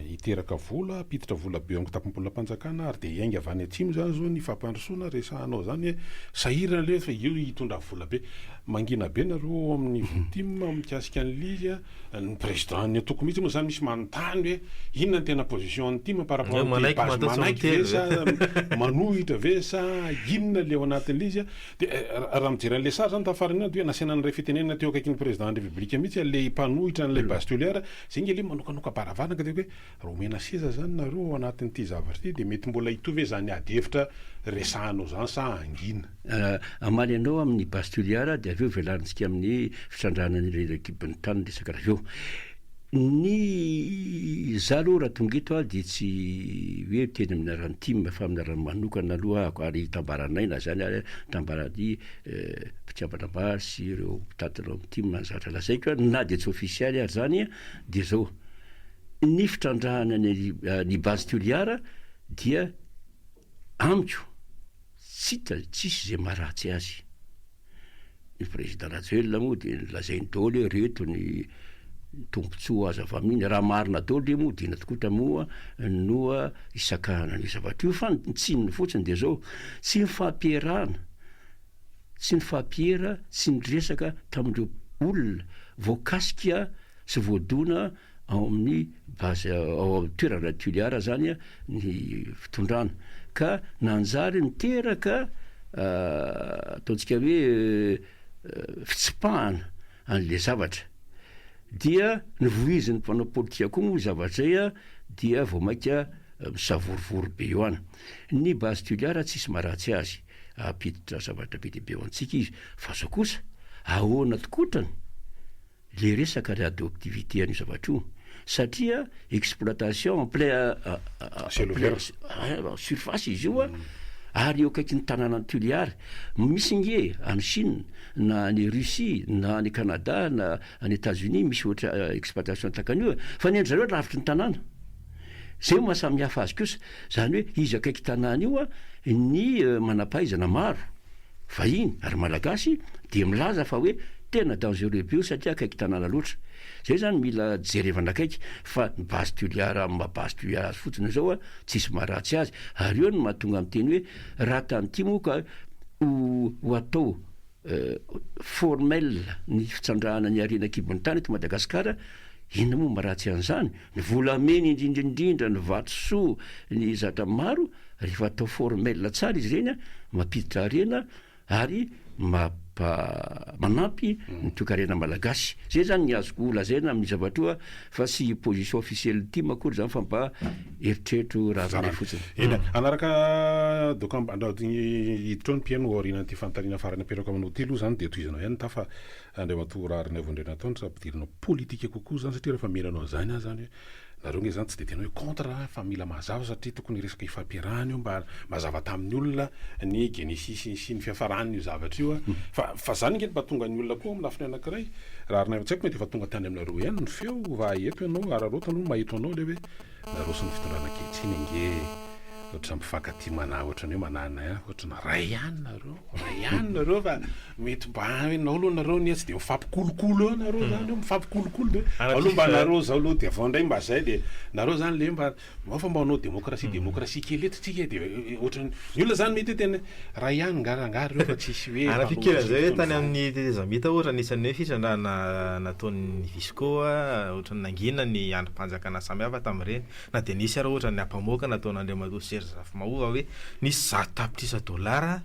hiteraka vola, hampiditra vola be ao amin'ny kitapom-bolam-panjakana ary dia hiainga avy any atsimo izany izao ny fampandrosoana resahanao izany hoe sahirana ilay izy fa io hitondra vola be. Mangina be nareo ao amin'ny tim mikasika an'ilay izy a. Ny président ny antoko mihitsy moa zany misy manontany hoe inona ny tena position ny tim par rapport amty base manaiky ve sa manohitra ve sa inona le ao anatinle izy a de raha mijery anle sary zany tafarinandro dia nasiana anle fitenenana teo akaikin'ny président ny république mihitsy anle mpanohitra anle base toliara zay nge le manokanoka baravarana ka de hoe Raha omena seza izany nareo ao anatin'ity zavatra ity dia mety mbola hitohy ve izany ady hevitra resahanao izany sa hangina? Hamaly anao amin'ny base Toliara dia avy eo velarintsika amin'ny fitrandrahana an'ireo ekipin'ny tany ny resaka avy eo. Ny izaho aloha raha tonga eto aho dia tsy hoe miteny amin'ny anaran'ny tim fa amin'ny anaran'ny manokana aloha ahako ary hitambaranay na izany ary hitambaran'ny mpikambana maro sy ireo mpitantana ao amin'ny tim ny zavatra lazaiko na dia tsy ofisialy ary izany Dia izao, ny fitrandrahana ny ny base Toliara dia amiko tsy hita tsisy izay maharatsy azy. Ny président Rajoelina moa dia lazainy daholo hoe reto ny tombotsoa azo avy amin'iny, raha marina daholo dia moa dina tokoa ta moa no hisakahana an'io zavatra io. Fa ny tsininy fotsiny dia izao, tsy ny fampiherana, tsy nifampiera sy niresaka tamin'ireo olona voakasika sy voadona ao amin'ny base ao amin'ny toerana Tuliar izany ny fitondrana ka nanjary niteraka ataontsika hoe fitsipahana an'ilay zavatra. Dia novoizin'ny mpanao politika koa moa io zavatra izay dia vao mainka misavorovoro be eo any. Ny base Tuliar tsisy maharatsy azy. hampiditra zavatra be dia be ho antsika izy, fa zao kosa ahoana tkotrany le resaka readoptivite an'io zavatra io, satria exploitation en plein en plein surface izy io ary eo akaikin'ny tanànan'i Toliara, misy nge any Chine na any Russie na any Canada na any Etats-Unis misy ohatra exploitation tahaka an'io fa ny an-dry zareo lavitry ny tanàna. Zay no maha samy hafa azy kosa, zany hoe izy akaiky tanàna io a, ny manampahaizana maro, vahiny ary malagasy dia milaza fa hoe tena dangereux be io satria akaiky tanàna loatra. Zay zany mila jerevana akaiky fa ny base Tuliar amin'ny maha base Tuliar azy fotsiny zao a, tsisy maha ratsy azy, ary eo no mahatonga miteny hoe raha tany ty moa ka ho ho atao formel ny fitsandrahana ny harena an-kibon'ny tany eto Madagasikara, inona moa maha ratsy an'izany? Ny volamena indrindra indrindra ny vatosoa ny zatra maro rehefa atao formel tsara izy ireny mampiditra harena ary mampa manampy ny toekarena malagasy zay zany ny azoko lazaina amin'ny zavatroa fa tsy position officielle tim akory zany fa mba eritreritro raharanay fotsiny. Eny hanaraka dokamb andrao hiditra ao ny mpihaino aorianan'ity fanontaniana farany apetrako aminao ity aloha zany dia tohizanao ihany ny tafa Andriamatoa Raharinaivo Andrianantoanitra, ampidirina politika kokoa izany satria rehefa miheno anao izany aho izany hoe nareo ange izany tsy dia tena hoe contre aho fa mila mazava satria tokony resaka ifampiarahana io mba mazava tamin'ny olona ny genesis sy ny fiafaran'io zavatra io fa fa izany ange no mba tonga ny olona koa amin'ny lafiny anankiray Raharinaivo tsy haiko mety efa tonga tany aminareo ihany ny feo va eto ianao araraoty aloha mba eto anao ilay hoe Naroso ny fitondrana ankehitriny ange ohatran'ny mpifankatia manahy ohatran'ny hoe manahy anay ihany ohatran'ny ray ihany nareo ray ihany nareo fa mety mba enao aloha nareo anie tsy dia mifampikolokolo eo nareo zany eo mifampikolokolo de aloha mba nareo zao aloha de avao indray mba zay de nareo zany le mba mba fa mba hanao demokrasia demokrasia kely eto tsika de ohatran'ny ny olona zany mety hoe tena Ray ihany nga rangah reo fa tsisy hoe Ary mpanohitra fikirana izay hoe tany amin'ny tetezamita ohatra anisan'ny hoe fitrandrahana nataon'ny visco ohatra ny nangina ny andrim-panjakana samihafa tamin'ireny na dia nisy ary ohatra ny ampamoaka nataon'Andriamatoa Serge Rafimahova hoe nisy zato tapitrisa dolara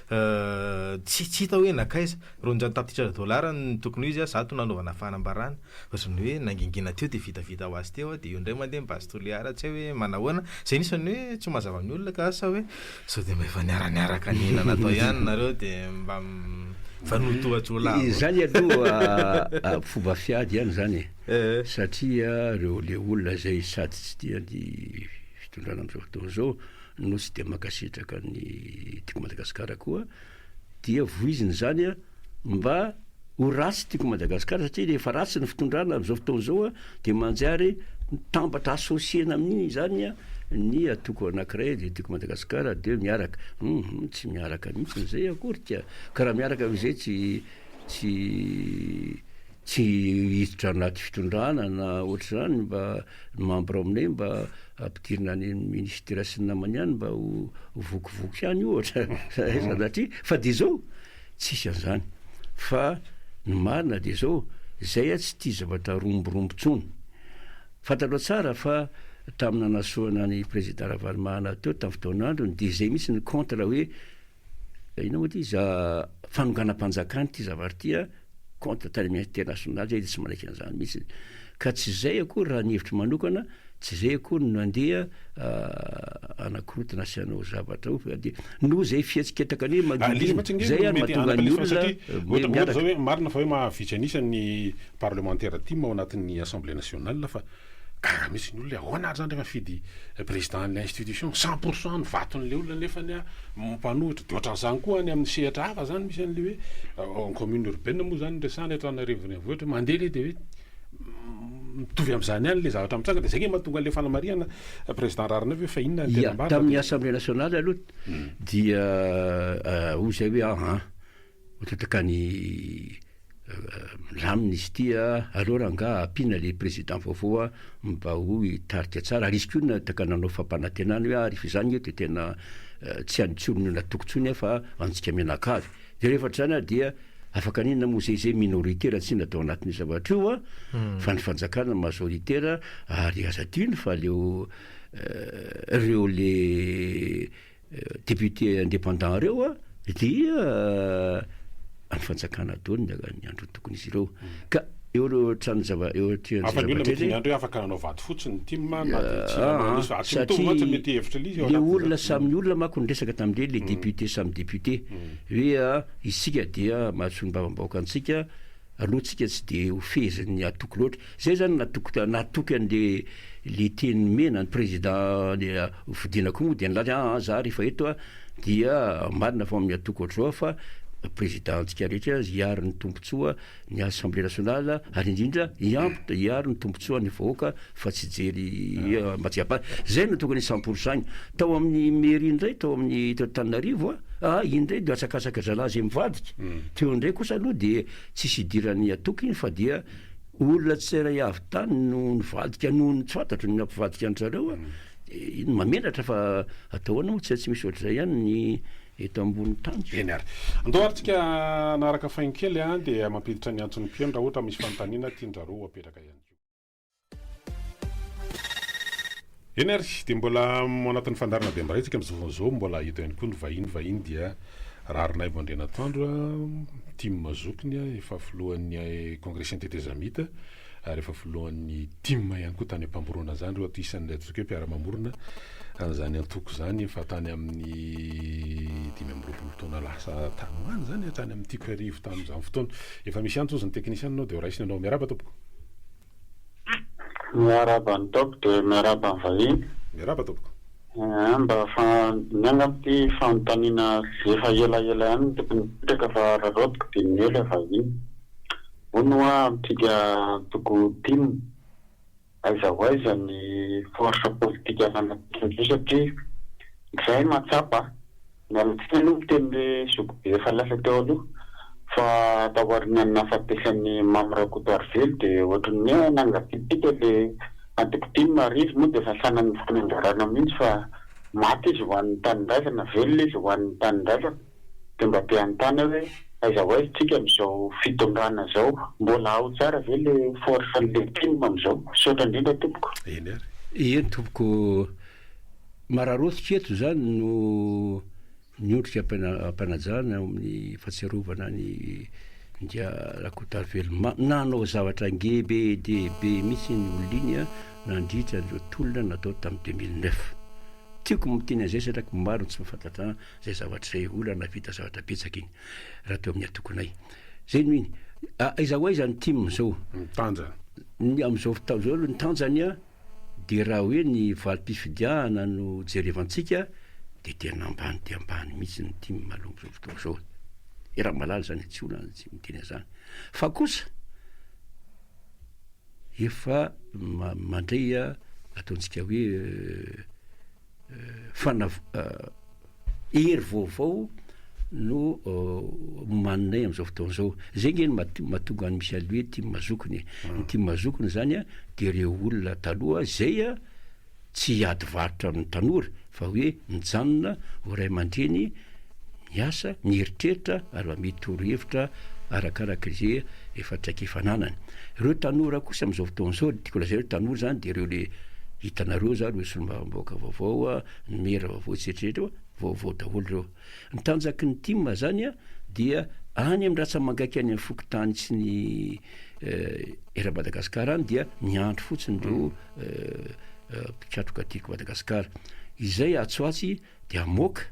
tsy hita hoe nankaiza, roanjato tapitrisa dolara no tokony ho izy, zato nanaovana fanambarana. Ohatran'ny hoe nangingina teo dia vitavita ho azy teo aho dia eo indray mandeha ny base Toliara tsy hay hoe manahoana? Izay anisan'ny hoe tsy ho mazava amin'ny olona ka sa hoe sao dia mba efa niara-niaraka nila natao ihany nareo dia mba mifanotoa jiolahy avao. Izany aloha fomba fiady ihany izany e, satria ireo ilay olona izay sady tsy tia ny fitondrana amin'izao fotoana izao no tsy dia mankasitraka ny Tiko Madagasikara koa Dia vohizina izany an! Mba ho ratsy tiako Madagascar satria rehefa ratsy ny fitondrana amin'izao fotoana izao an! Dia manjary mitambatra associer-na amin'iny izany an! Ny atoko anakiray dia tiako Madagascar dia miaraka. Hum! Tsy miaraka mihitsy izay akorika! Ka raha miaraka amin'izay tsy tsy tsy hiditra anaty fitondrana na ohatr'izany mba ny membre aminay mba ampidirina any amin'ny ministère sy ny namany any mba ho vokivoky any ohatra sanatria fa dia izao tsisy an'izany fa ny marina dia izao izay a tsy tia zavatra romborombo intsony fantatrao tsara fa tamin'ny nanasoana ny président Ravalomanana teo tamin'ny fotoan'androny dia izay mihitsy ny contre hoe Inona moa ity za fanonganam-panjakana ity zavatra ity a, compte tany amin'ny international zay de tsy manaiky an'izany mihitsy, ka tsy izay akory raha ny hevitro manokana, tsy izay akory no nandeha hanakorontana sy hanao zavatra ao fa dia noho izay fihetsiketsaka an'iny Magidina izay ary mahatonga ny olona miaraka. Marina fa hoe mahavitsy an'isa ny parlemantera tim ao anatin'ny assemblée nationale fa. Gaga mihitsy ny olona hoe ahoana ary zany rehefa mifidy président an'ilay institution cent pour cent ny vaton'ilay olona nefany mpanohitra, de ohatran'izany koa any amin'ny sehatra hafa zany misy an'ilay hoe en commune urbaine moa zany no resahana eto Antananarivo Renivohitra hoe mandeha le de hoe mitovy amin'izany ihany le zavatra mitranga de zay nge mahatonga an'ilay fanamarihana président Raharinaivo hoe fa inona ny tena marina de. Ia, tamin'ny assemblée nationale aloha dia hoy zay hoe ahaa. Matanjaka ny lamina izy ity a, aleo rangaha ampiana le président vaovao a mba ho hitarika tsara, ary izy koa na taka nanao fampanantenana hoe ary fa izany nge de tena tsy an'ny tsy olona natoky tsony a fa antsika mianakavy, de rehefa try zany ary dia afaka an'inona moa zay, zay minoritaire tsy natao anatin'io zavatra io a, fa ny fanjakana majoritaire, ary aza adino fa leo reo le. députés indépendants ireo dia any fanjakana daholo ny ny androny tokony izy ireo ka eo ireo trano zava eo aty Hafa ny olona mety andro afaka nanao vato fotsy ny tim na dia tsy nanao an'io fa tsy mitovy mantsy ny mety hevitra l'izy eo le olona samy olona manko niresaka tamin'ireny le députés samy députés hoe isika dia mahasoa ny babam-bahoaka antsika aloha tsika tsy dia ho fehezin'ny hatoky loatra. Zay zany natoky natoky an'le le teny nomena ny président le Vodina koa moa dia nilaza hoe aa za rehefa eto a dia marina fa amin'ny hatoky ohatr'izao fa président antsika rehetra hiaro ny tombotsoa ny assemblée nationale ary indrindra hiampy hiaro ny tombotsoan'ny vahoaka fa tsy hijery mba tsy hiampara. Izay no tokony cent pour cent-ny. Tao amin'ny mairie indray tao amin'ny teto Antananarivo a, iny indray dia atsakasaka zalahy izay mivadika. Teo indray kosa aloha dia tsisy idiran'ny antoko iny fa dia olona tsirairay avy tany no nivadika noho ny tsy fantatro ny nampivadika an-dry zareo a. Iny mahamenatra fa atao ahoana moa tsy misy ohatr'izay ihany ny eto ambonin'ny tany. Eny ary. Andao ary tsika hanaraka faingo kely a, dia mampiditra ny antson'ny mpihaino raha ohatra misy fanontaniana tian-dry zareo ho apetraka ihany koa. Eny ary, dia mbola ao anatin'ny fandaharana Bem-baray isika amin'izao fotoana izao, mbola eto ihany koa ny vahiny, vahiny dia Raharinaivo Andrianatoandro, tim zokiny, efa filohan'ny Kongresin'ny Tetezamita ary efa filohan'ny tim ihany koa tany am-pamorona izany, ireo isan'ilay antoko hoe mpiara-mamorona an'izany antoko izany efa tany amin'ny dimy amby roapolo taona lasa tany ho any izany, hatrany amin'ny tiko sy arivo tamin'izany fotoana. Efa misy antso hozy ny teknisianina ao dia ho raisina ianao. Miarahaba tompoko. Miarahaba an'i Top dia miarahaba ny vahiny. Miarahaba tompoko. Eeh mba fa mianga amin'ity fanontaniana efa elaela ihany ny tokony hipetraka fa raraotiko dia miely aho vahiny. Hono hoa amintsika antoko tim, aiza ho aiza ny force politique ananantsika indray satria izahay mahatsapa. Narotsaka aloha ny tenin'i Zokibe efa lasa teo aloha fa taorian'ny nahafatesan'i Mamy Rakotoarivelo dia ohatry ny hoe nangatsiatsiaka ilay antoko tim ary izy moa dia efa sanan'ny fanambarana mihitsy fa maty izy ho an'ny tanindrazana, velona izy ho an'ny tanindrazana dia mba te hanontana hoe aiza ho aiza tsika amin'izao fitondrana izao? Mbola ao tsara ve ilay force an'ilay tim amin'izao? Misaotra indrindra tompoko. Eny ary. Eny tompoko. Mararotika eto izany no miondrika am-panajana eo amin'ny fahatsiarovana an'i India Rakotavelo. Nanao zavatra ngebe dia be mihitsy ny olona iny nandritra an'ireo tolona natao tamin'ny deux mille neuf. Tiako ny miteny an'izay satria ko maro ny tsy mahafantatra izay zavatra izay, olona nahavita zavatra betsaka iny raha teo amin'ny antokonay. Izay no iny. Aiza ho aiza ny tim izao? Ny tanjany? Amin'izao fotoana izao aloha ny tanjany an! dia raha hoe ny valim-pifidiahana no jerevantsika dia tena ambany dia ambany mihitsy ny tim aloha amin'izao fotoana izao e! i Ramalala izany tsy olana tsy miteny an'izany fa kosa efa mandray ataontsika hoe fanav hery vaovao no omaninay amin'izao fotoana izao. Izay ange no mahatonga an'i Michel hoe tim mazokiny e. Ny ah. tim mazokiny izany a dia ireo olona taloha izay a tsy hiady varotra amin'ny tanora fa hoe mijanona ho ray aman-dreny miasa, mieritreritra ary mba mety torohevitra arakaraka izay efa traikefa ananany. Ireo tanora kosa amin'izao fotoana izao, ny tiako lazaina hoe tanora izany dia ireo ilay hitanareo izany, ireo solombavambahoaka vaovao, ny maire vaovao sy eritreretra eo, vaovao daholo ireo. Ny tanjaky ny tim izany dia any amin'ny ratsa-mangaika any amin'ny fokontany sy ny eran'i Madagasikara any dia miandry fotsiny ireo mpikatroka Tiako Madagasikara. Izay atsy ho atsy Dia amoaka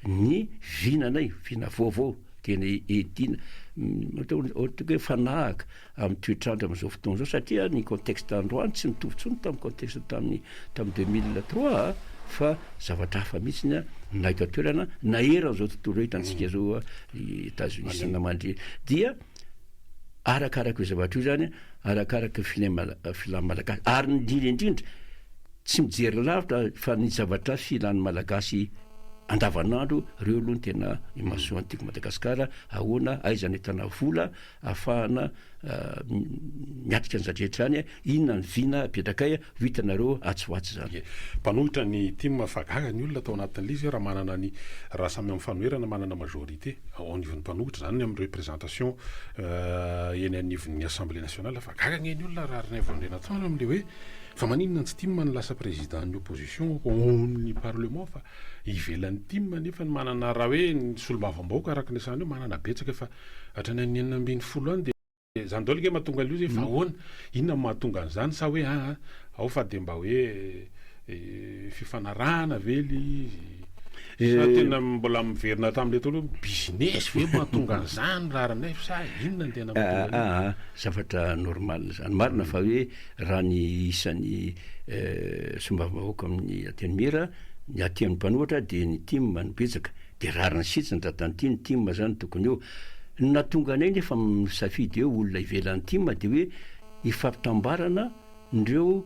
ny vinanay, vina vaovao, dia ny edin, ohatra hoe mifanahaka amin'ny toetr'andro amin'izao fotoana izao, satria ny contexte androany tsy mitovy intsony tamin'ny contexte tamin'ny tamin'ny deux mille trois a, fa zavatra hafa mihitsiny a, na eto an-toerana, na eran'izao tontolo izao hitantsika izao a, i Etazonia sy ny namany, dia arakarak'io zavatra io izany, arakaraka ny filain'ny Mala- filan'ny Malagasy, ary ny indrindra indrindra, Tsy mijery lavitra fa ny zavatra filan'ny Malagasy andavan'andro reo aloha no tena imasoan'ny Tiako Madagasikara, ahoana, aiza ny ahitana vola ahafahana miatrika an'izany rehetra izany, inona ny vina apetrakay, ho hitanareo atsy ho atsy izany. Mpanohitra ny tim fa gaga ny olona tao anatin'ilay izy raha manana ny raha samy amin'ny fanoherana manana majorité ao anivon'ny mpanohitra izany ny amin'ny représentation eny anivon'ny assemblée nationale fa gaga anie ny olona raha rnivon'ny rena tsara amin'ilay hoe Fa maninona antsy tim no lasa président ny opposition ao ny parlement fa ivelany tim nefa ny manana raha hoe ny solombavamb aoka araka ny resahana eo manana betsaka fa hatrany an'ny enina ambin'ny folo any dia zany daolo nge mahatonga an'io zay fa ahoana inona no mahatonga an'izany sa hoe aa ao fa dia mba hoe fifanarahana ve le izy sa tena mbola miverina hatramin'ilay teo aloha business ve mahatonga an'izany raharinay sa inona ny tena mahatonga an'io zavatra normal zany marina fa hoe Raha ny isan'ny solombavambahoaka amin'ny Antenimiera, ny aty amin'ny mpanohatra dia ny tim no betsaka. Dia rariny sitsy ny tratran'ny tim, ny tim izany tokony eo. Ny nahatonga anay nefa misafidy hoe olona ivelan'ny tim dia hoe hifampitambarana ireo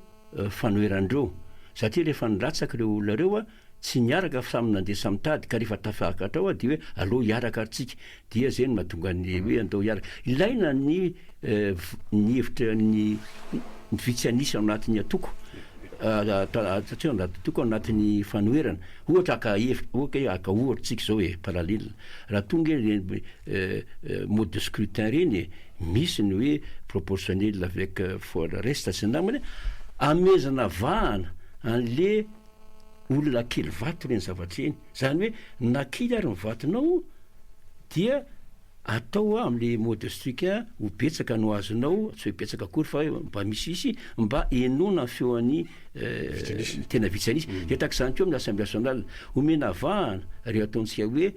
fanoheran'ireo. Satria rehefa nilatsaka ireo olona ireo, Tsy niaraka fa samy nandeha samy tady ka rehefa tafakatra ao dia hoe aleo hiaraka ary tsika dia zay no mahatonga ny hoe andao hiaraka. Ilaina ny ny hevitra ny ny vitsy an'isa ao anatin'ny antoko ataontsika hoe antoko ao anatin'ny fanoherana ohatra haka hevitra ok e haka ohatra tsika zao e parallele raha tonga ireny mode de scrutin reny e misy ny hoe proportionnel avec for reste sy ny namany amehezana vahana an'le olona kely vato ireny zavatra ireny, zany hoe na kely ary ny vatonao dia atao amle mode strict ho betsaka no azonao, tsy hoe betsaka akory fa mba misiisy mba henoana ny feo an'ny tena vitsy an'isa, mm. dia tak'izany koa amin'ny assemblée nationale, omena vahana ry ataontsika hoe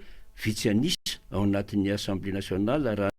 vitsy an'isa ao anatin'ny assemblée nationale raha